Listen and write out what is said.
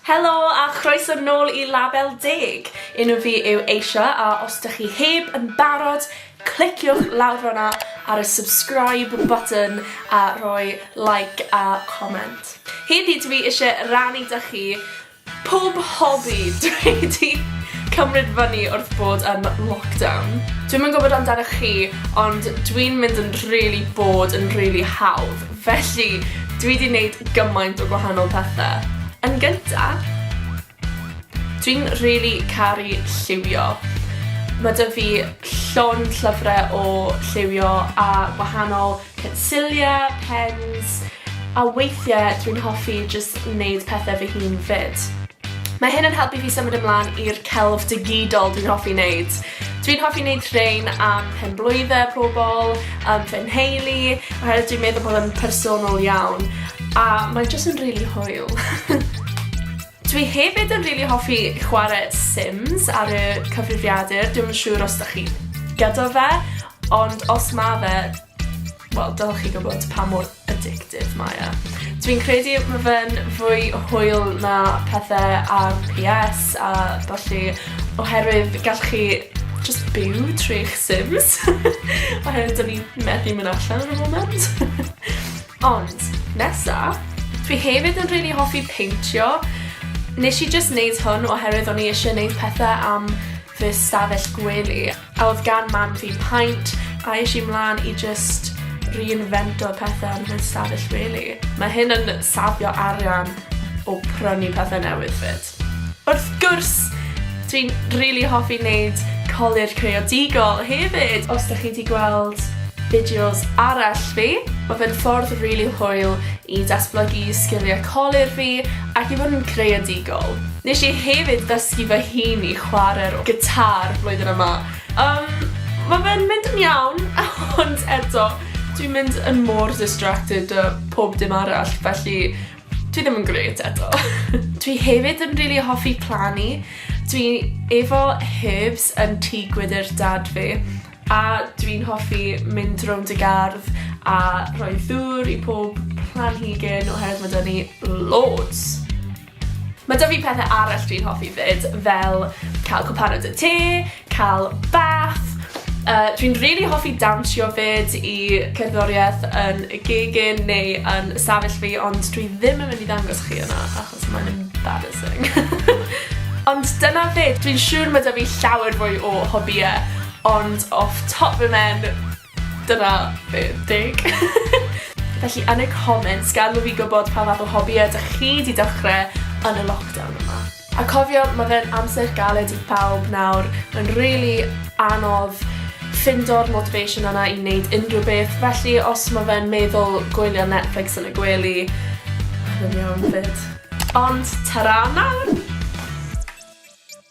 Helo a chroeso nôl i Label Deg! Enw fi yw Aisha a os dych chi heb yn barod, cliciwch lawr fan'na ar y subscribe button a rhoi like a comment. Heddi dw i isie rannu 'da chi pob hobi dw i 'di cymryd fyny wrth bod yn lockdown. Dwi'm yn gwybod amdanoch chi ond dwi'n mynd yn rili bored yn rili hawdd. Felly, dwi 'di neud gymaint o gwahanol pethe. Yn gynta', dwi'n rili caru lliwio. Ma' 'da fi llond llyfre o lliwio a gwahanol pensilie, pens, a weithie dwi'n hoffi jyst neud pethe fy hun 'fyd. Mae hyn yn helpu fi symud ymlan i'r celf digidol dwi'n hoffi wneud. Dwi'n hoffi wneud rhein am penblwydde pobl, am fy nheulu, oherwydd dwi'n meddwl bod yn personol iawn, a mae jyst yn rili hwyl. Dwi hefyd yn rili hoffi chwarae Sims ar y cyfrifiadur, dwi'm yn siŵr os 'dach chi gyda fe, ond os ma fe, Wel, dylech chi gwybod pa mor addictive mae e. Dwi'n credu mae fe'n fwy hwyl na pethau ar PS a felly oherwydd gallwch chi just byw trwy'ch sims. oherwydd dyn ni methu mynd allan yn y moment. Ond, nesa, dwi hefyd yn rili really hoffi peintio. Nes i just neud hwn oherwydd o'n i eisiau neud pethau am fy stafell gwely. A oedd gan mam fi paent a es i mlan i jyst reinfento pethe yn fy stafell wely. Mae hyn yn safio arian o prynu pethe newydd 'fyd. Wrth gwrs! Dwi'n rili hoffi neud colur creadigol hefyd! Os dych chi 'di gweld fideos arall fi, ma' fe'n ffordd rili hwyl i datblygu sgiliau colur fi ac i fod yn creadigol. Nes i hefyd ddysgu fy hun i chware'r gitâr flwyddyn yma. Yym, ma' fe'n mynd yn iawn, ond eto, dwi'n mynd yn mor distracted 'da pob dim arall, felly dwi ddim yn grêt eto. Dwi hefyd yn rili hoffi plannu. Dwi efo herbs yn tŷ gwydr dad fi, a dwi'n hoffi mynd rownd y gardd a rhoi ddŵr i pob planhigyn oherwydd ma' 'da ni loads. Mae 'da fi pethau arall dwi'n hoffi 'fyd, fel cael cwpan o dy te, cael bath, Uh, dwi'n really hoffi dawnsio 'fyd i cerddoriaeth yn y gegin neu yn y safell fi ond dwi ddim yn mynd i ddangos chi yna achos mae'n embarrassing. Ond dyna fe, dwi'n siŵr mae 'da fi llawer fwy o hobïe ond off top fy mhen Dyna be deg. Felly yn y comments gadel fi gwybod pa fath o hobïau dych chi 'di dechrau yn y lockdown yma. A cofio, ma' fe'n amser galed i phawb nawr, mae'n rili anodd ffindo'r motivation yna i neud unrhyw beth, felly os ma' fe'n meddwl gwylio Netflix yn y gwely, mae'n iawn 'fyd. Ond, tara am nawr!